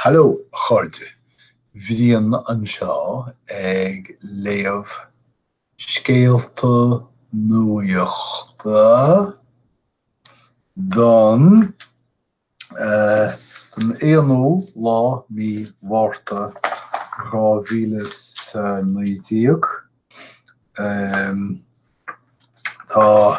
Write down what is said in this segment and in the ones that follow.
Hallo, a chairde. Brian anseo ag léamh scéalta nuachta don don aonú lá mí Mhárta dhá mhíle is a naoi déag. Tá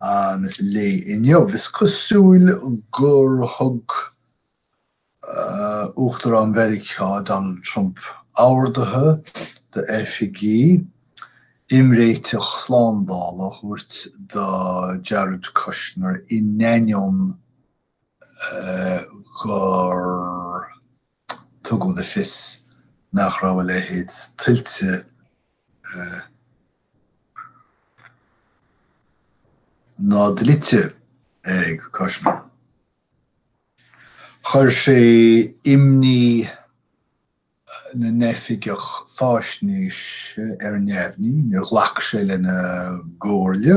an lae inniu. Is cosúil gur thug Uachtarán Mheiriceá, Donald Trump, orduithe d'oifigigh imréiteach slándála a thabhairt do Jared Kushner in ainneoin gur. Tugadh le fios nach raibh a leithéid tuillte ná dlite ag Kushner. Chuir sé imní na n-oifigeach faisnéise ar neamhní, níor ghlac sé lena gcomhairle.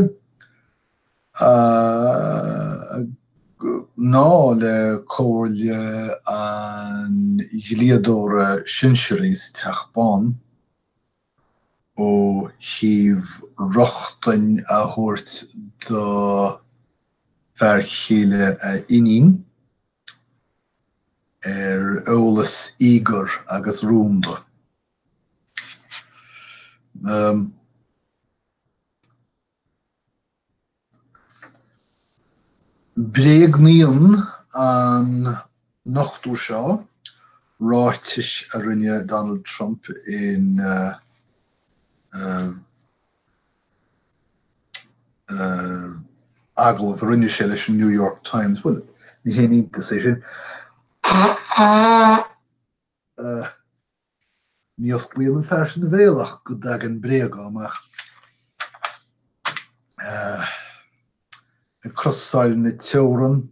ná le comhairle an dlíodóra shinsearaigh sa Teach Bán ó thaobh rochtain a thabhairt do fear chéile a iníon ar eolas íogair agus rúnda. Bréagnaíonn an nochtadh seo ráitis a rinne Donald Trump in agallamh a rinne sé leis an New York Times, bhuel, ní haon iontas é sin. a. Ní osclaíonn an fear sin a bhéal ach go dtagann bréaga amach. Ag crosáil na teorann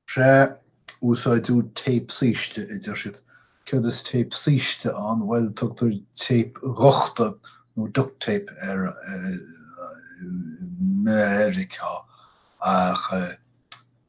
trí úsáid tape saoiste a deir siad. Céard is tape saoiste ann bhuel tugtar tape dhuchta nó duct tape air i Meiriceá ach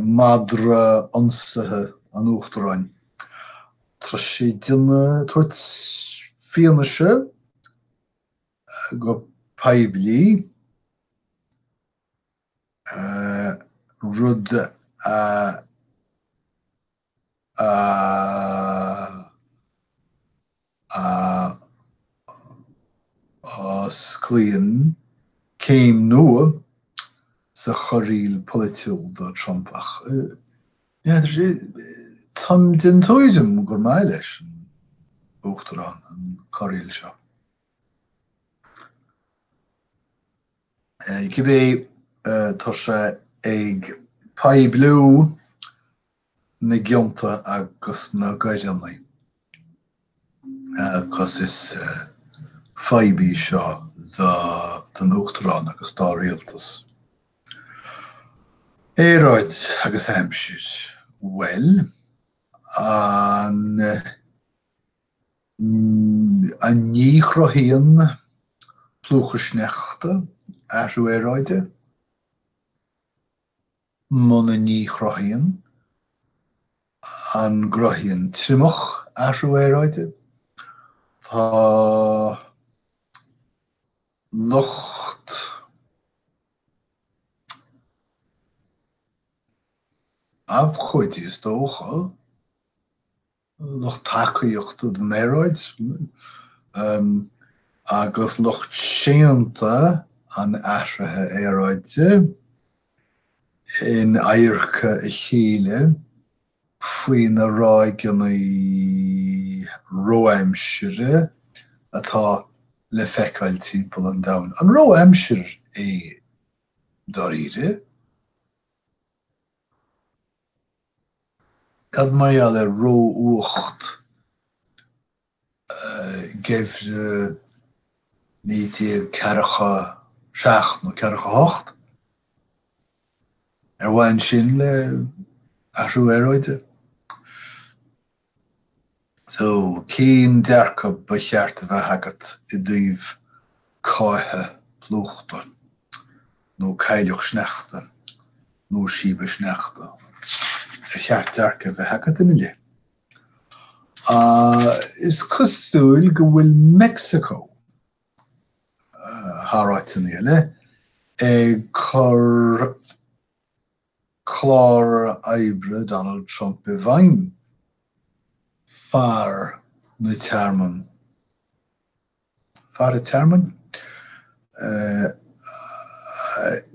madra ionsaithe an Uachtaráin. Tá sé ag tabhairt fianaise go poiblí, rud a. Osclaíonn céim nua sa chorraíl pholaitiúil do Trump ach táim den tuairim gur maith leis an Uachtarán an chorraíl seo. Cibé, tá sé ag poibliú na gcionta agus na gcoireanna agus is fadhb í seo don Uachtarán agus dá rialtas. Aeráid agus aimsir. Bhuel, an. An ní chruthaíonn plúchadh sneachta, athrú aeráide. Muna ní chruthaíonn, an gcruthaíonn triomach, athrú aeráide? Tá lucht abhcóidí, is dócha. lucht tacaíochta don aeráid agus lucht séanta an athruithe aeráide in adharca a chéile faoi na ráigeanna ró-aimsire atá le feiceáil timpeall an domhain. An ró-aimsir é dáiríre? Cad mar gheall ar ró-fhuacht geimhreadh 1947 nó 48? Ar bhain sin le athrú aeráide? So, cén dearcadh ba cheart a bheith agat i dtaobh cáithe plúchta, nó cáitheadh sneachta, nó síobadh sneachta? Ar cheart dearcadh a bheith agat ina leith? Is cosúil go bhfuil Meicsiceo, thar áiteanna eile, ag cur clár oibre Donald Trump i bhfeidhm, fear na dtearmann, fear an tearmainn?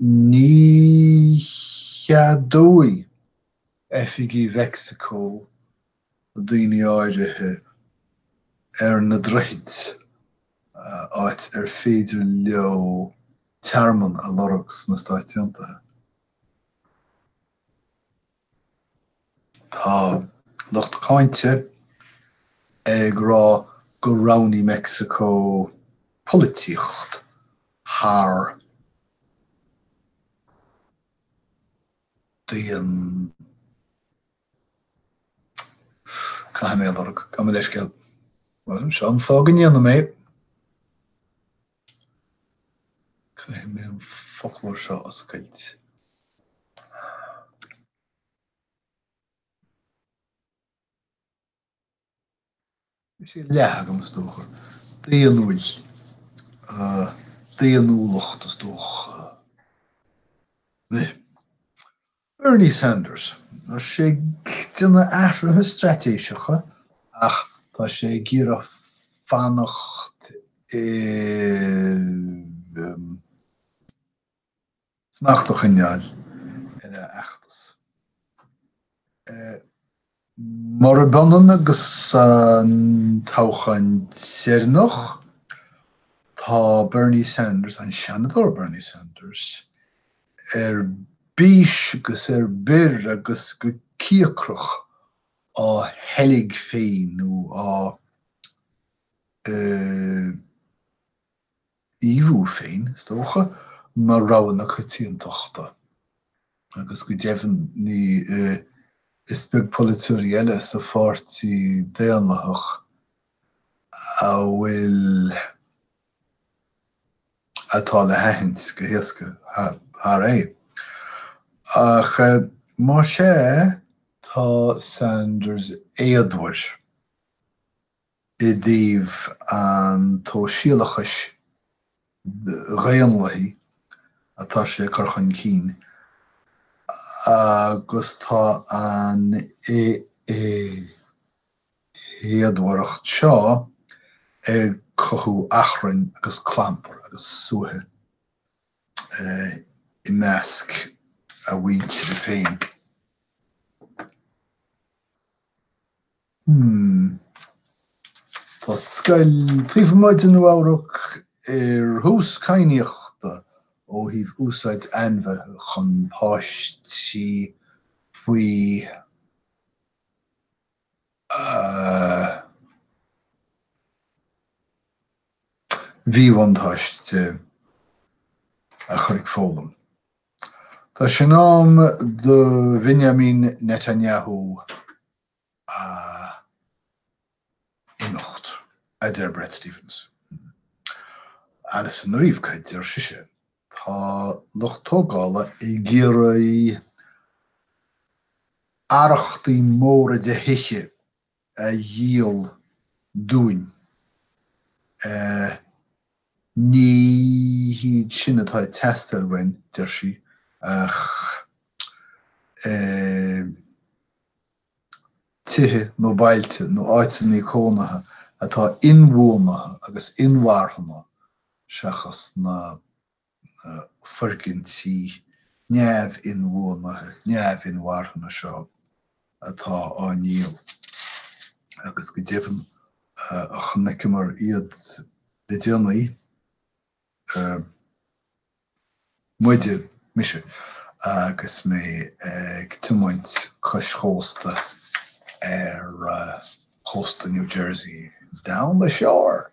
ní cheadóidh oifigigh Mheicsiceo daoine áirithe ar na droichid, áit ar féidir leo tearmann a lorg sna Stáit Aontaithe. Tá lucht cáinte ag rá gur roghnaigh Meicsiceo polaitíocht thar daonnacht. Caithfidh mé a lorg, gabh mo leithscéal. Bhuel, seo an fáth go ndéanann. Caithfidh mé. Caithfidh mé an foclóir seo a oscailt. Bhí sé leath agam, is dócha. Daonnúil. Daonnúlacht, is dócha. Bernie Sanders. Tá sé ag déanamh athruithe straitéiseacha ach tá sé ag iarraidh fanacht i. smachta i ngeall ar a fheachtas. Murab ionann agus an toghchán deireanach, tá Bernie Sanders, an Seanadóir Bernie Sanders, ar bís agus ar bior agus go cíocrach á sheilg féin nó á. Ainmniú féin, is dócha, mar rogha na coitiantachta agus go deimhin is beag polaiteoirí eile sa pháirtí daonlathach a bhfuil atá le haithint go héasca thar é. Ach más ea, tá Sanders éadmhar. i dtaobh an tsóisialachais dhaonlathaigh atá sé ag cur chun cinn agus tá an éadmhaireacht seo ag cothú achrainn agus clampair agus suaitheadh i measc a mhuintire féin. Hmm. Tá scoil taobh amuigh de Nua Eabhrac ar thús cadhnaíochta ó thaobh úsáid ainmhithe chun páistí faoi mhíbhuntáiste a chur ag foghlaim. Tá sé in am do Bhinyamin Netanyahu a imeacht, a deir Bret Stephens. Allison Arieff Cad deir sise? Tá lucht tógála ag iarraidh arrachtaí móra de thithe a dhíol dúinn. Ní hiad sin atá ag teastáil uainn, deir sí, ach tithe nó bailte nó áiteanna cónaithe atá inbhuanaithe agus inmharthana seachas na foirgintí neamh-inbhuanaithe, neamh-inmharthana seo atá á ndíol agus go deimhin chonaiceamar iad le déanaí. Muide, muise agus mé ag tiomaint cois chósta ar chósta New Jersey, down the shore!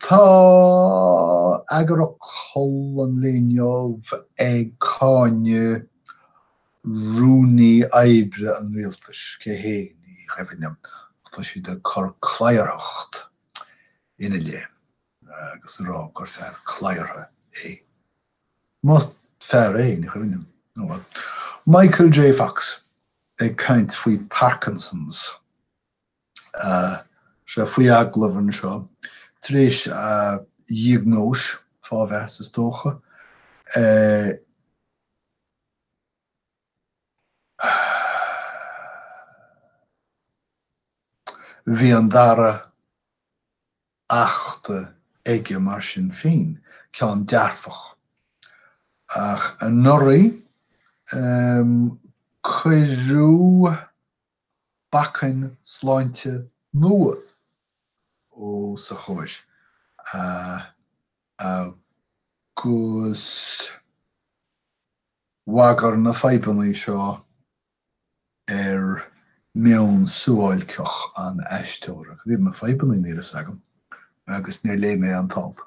Tá eagarfhocal an lae inniu ag cáineadh rúnaí oibre an rialtais, cé hé, ní chuimhin liom, ach tá siad ag cur cladharthacht ina leith agus a rá gur fear cladhartha é. Más fear é, ní chuimhin liom. Ó bhuel. Michael J. Fox ag caint faoi Parkinson's. Sea, faoi agallamh anseo, tar éis a dhiagnóis, fá bheith is dócha, Bhí an dara hachta aige mar sin féin, ceann dearfach. Ach anuraidh cuireadh bacainn sláinte nua os a chomhair. Agus bhagair na fadhbanna seo ar mheon suáilceach an aisteora. Cad iad na fadhbanna? Níl a fhios agam agus níor léigh mé an t-alt.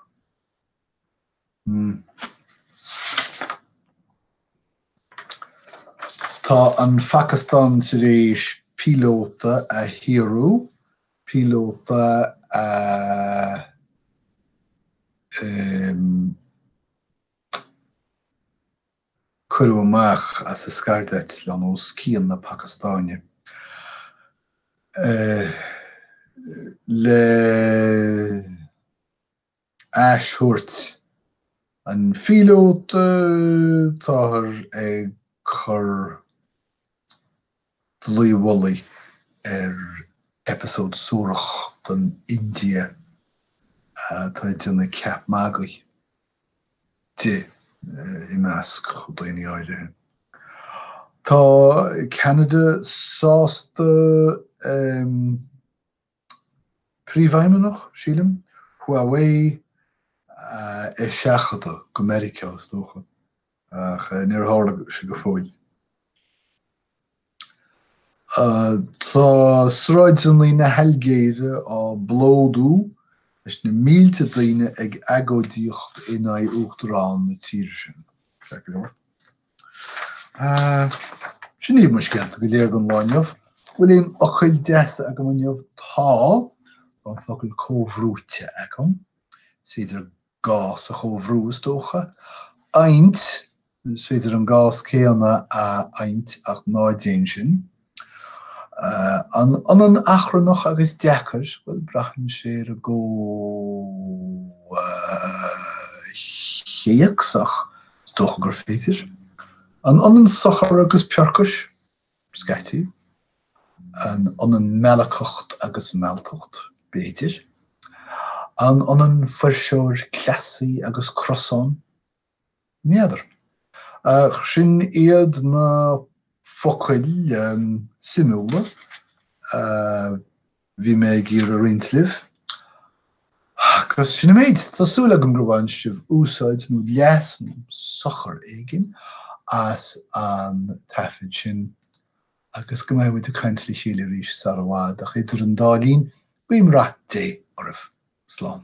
Tá an Phacastáin tar éis píolóta a shaoradh, píolóta a cuireadh amach as a scairdeitleán os cionn na Pacastáine le ais thabhairt an phíolóta, táthar ag cur dlaoi mhullaigh ar eipeasóid suarach don India atá ag déanamh ceap magaidh di i measc daoine áirithe. Tá Canada sásta. Príomhfheidhmeannach, sílim, Huawei a eiseachadadh go Meiriceá, is dócha, ach níor tharla sé go fóill. Tá sráideanna na hAilgéire á bplódú leis na mílte daoine ag agóidíocht in aghaidh uachtarán na tíre sin. Sin iad mo scéalta go léir don lá inniu. Bhfuil aon fhocail deasa agam inniu? Tá. Tá an focal comhbhrúite agam. Is féidir gás a chomhbhrú, is dócha. Adhaint, is féidir an gás céanna a adhaint ach ná déan sin. An ionann achrannach agus deacair? Bhuel, braitheann sé ar an gcomhthéacs ach is dócha gur féidir. An ionann sochar agus peorcais? Scaití. An ionann meallacacht agus mealltacht? B'fhéidir. An ionann fuirseoir, cleasaí agus crosán? N'fheadar. Ach sin iad na focail suimiúla a bhí mé ag iarraidh a roinnt libh. Agus sin an méid. Tá súil agam gur bhain sibh úsáid, nó leas, nó sochar éigin as an taifead sin. Agus go mbeidh muid ag caint le chéile arís sara bhfad. Ach idir an dá linn, guím rath Dé oraibh. Slán.